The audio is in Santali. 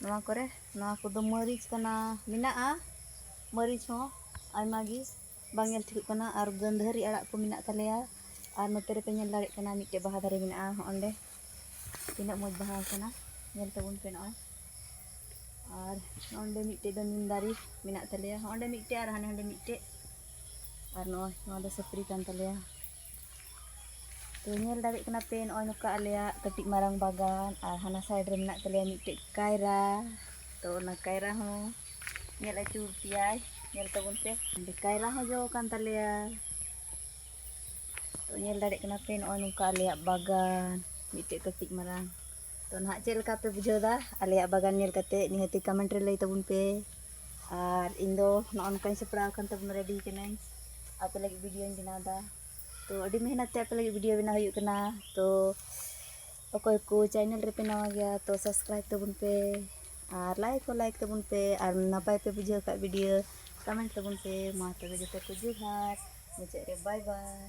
ᱱᱚᱣᱟ ᱠᱚᱨᱮ ᱱᱚᱣᱟ ᱠᱚᱫᱚ ᱢᱟᱹᱨᱤᱪ ᱠᱟᱱᱟ ᱢᱮᱱᱟᱜᱼᱟ ᱢᱟᱹᱨᱤᱪ ᱦᱚᱸ ᱟᱭᱢᱟ ᱜᱮ ᱵᱟᱝ ᱧᱮᱞ ᱴᱷᱤᱠᱚᱜ ᱠᱟᱱᱟ ᱟᱨ ᱜᱟᱹᱫᱷᱟᱹᱨᱤ ᱟᱲᱟᱜ ᱠᱚ ᱢᱮᱱᱟᱜ ᱛᱟᱞᱮᱭᱟ ᱟᱨ ᱱᱚᱛᱮ ᱨᱮᱯᱮ ᱧᱮᱞ ᱫᱟᱲᱮᱭᱟᱜ ᱠᱟᱱᱟ ᱢᱤᱫᱴᱮᱡ ᱵᱟᱦᱟ ᱫᱟᱨᱮ ᱢᱮᱱᱟᱜᱼᱟ ᱦᱚᱸᱜ ᱚᱸᱰᱮ ᱛᱤᱱᱟᱹᱜ ᱢᱚᱡᱽ ᱵᱟᱦᱟ ᱟᱠᱟᱱᱟ ᱧᱮᱞ ᱛᱟᱵᱚᱱ ᱯᱮ ᱱᱚᱜᱼᱚᱭ ᱟᱨ ᱚᱸᱰᱮ ᱢᱤᱫᱴᱮᱡ ᱫᱚ ᱱᱤᱢ ᱫᱟᱨᱮ ᱢᱮᱱᱟᱜ ᱛᱟᱞᱮᱭᱟ ᱚᱸᱰᱮ ᱢᱤᱫᱴᱮᱡ ᱟᱨ ᱦᱟᱸᱰᱮ ᱦᱟᱸᱰᱮ ᱢᱤᱫᱴᱮᱡ ᱟᱨ ᱱᱚᱜᱼᱚᱭ ᱱᱚᱣᱟ ᱫᱚ ᱥᱟᱹᱯᱨᱤ ᱠᱟᱱ ᱛᱟᱞᱮᱭᱟ ᱛᱚ ᱧᱮᱞ ᱫᱟᱲᱮᱭᱟᱜ ᱠᱟᱱᱟ ᱯᱮ ᱱᱚᱜᱼᱚᱭ ᱱᱚᱝᱠᱟ ᱟᱞᱮᱭᱟᱜ ᱠᱟᱹᱴᱤᱡ ᱢᱟᱨᱟᱝ ᱵᱟᱜᱟᱱ ᱟᱨ ᱦᱟᱱᱟ ᱥᱟᱭᱤᱰ ᱨᱮ ᱢᱮᱱᱟᱜ ᱛᱟᱞᱮᱭᱟ ᱢᱤᱫᱴᱮᱡ ᱠᱟᱭᱨᱟ ᱛᱚ ᱚᱱᱟ ᱠᱟᱭᱨᱟ ᱦᱚᱸ ᱧᱮᱞ ᱟᱹᱪᱩᱨ ᱯᱮᱭᱟᱭ ᱧᱮᱞ ᱛᱟᱵᱚᱱ ᱯᱮ ᱚᱸᱰᱮ ᱠᱟᱭᱨᱟ ᱦᱚᱸ ᱡᱚ ᱟᱠᱟᱱ ᱛᱟᱞᱮᱭᱟ ᱛᱚ ᱧᱮᱞ ᱫᱟᱲᱮᱭᱟᱜ ᱠᱟᱱᱟ ᱯᱮ ᱱᱚᱜᱼᱚᱭ ᱱᱚᱝᱠᱟ ᱟᱞᱮᱭᱟᱜ ᱵᱟᱜᱟᱱ ᱢᱤᱫᱴᱮᱡ ᱠᱟᱹᱴᱤᱡ ᱢᱟᱨᱟᱝ ᱛᱚ ᱱᱟᱦᱟᱜ ᱪᱮᱫ ᱞᱮᱠᱟ ᱯᱮ ᱵᱩᱡᱷᱟᱹᱣ ᱮᱫᱟ ᱟᱞᱮᱭᱟᱜ ᱵᱟᱜᱟᱱ ᱧᱮᱞ ᱠᱟᱛᱮ ᱱᱤᱦᱟᱹᱛᱤ ᱠᱚᱢᱮᱱᱴ ᱨᱮ ᱞᱟᱹᱭ ᱛᱟᱵᱚᱱ ᱯᱮ ᱟᱨ ᱤᱧ ᱫᱚ ᱱᱚᱜᱼᱚ ᱱᱚᱝᱠᱟᱧ ᱥᱟᱯᱲᱟᱣ ᱟᱠᱟᱱ ᱛᱟᱵᱚᱱ ᱨᱮᱰᱤ ᱠᱟᱹᱱᱟᱹᱧ ᱟᱯᱮ ᱞᱟᱹᱜᱤᱫ ᱵᱷᱤᱰᱤᱭᱳᱧ ᱵᱮᱱᱟᱣ ᱮᱫᱟ ᱛᱚ ᱟᱹᱰᱤ ᱢᱮᱦᱱᱚᱛ ᱛᱮ ᱟᱯᱮ ᱞᱟᱹᱜᱤᱫ ᱵᱷᱤᱰᱤᱭᱳ ᱵᱮᱱᱟᱣ ᱦᱩᱭᱩᱜ ᱠᱟᱱᱟ ᱛᱚ ᱚᱠᱚᱭ ᱠᱚ ᱪᱮᱱᱮᱞ ᱨᱮᱯᱮ ᱱᱟᱣᱟ ᱜᱮᱭᱟ ᱛᱚ ᱥᱟᱵᱥᱠᱨᱟᱭᱤᱵ ᱛᱟᱵᱚᱱ ᱯᱮ ᱟᱨ ᱞᱟᱭᱤᱠ ᱦᱚᱸ ᱞᱟᱭᱤᱠ ᱛᱟᱵᱚᱱ ᱯᱮ ᱟᱨ ᱱᱟᱯᱟᱭ ᱯᱮ ᱵᱩᱡᱷᱟᱹᱣ ᱠᱷᱟᱡ ᱵᱷᱤᱰᱤᱭᱳ ᱠᱚᱢᱮᱱᱴ ᱛᱟᱵᱚᱱ ᱯᱮ ᱢᱟ ᱛᱚᱵᱮ ᱡᱚᱛᱚ ᱠᱚ ᱡᱚᱦᱟᱨ ᱢᱩᱪᱟᱹᱫ ᱨᱮ ᱵᱟᱭ ᱵᱟᱭ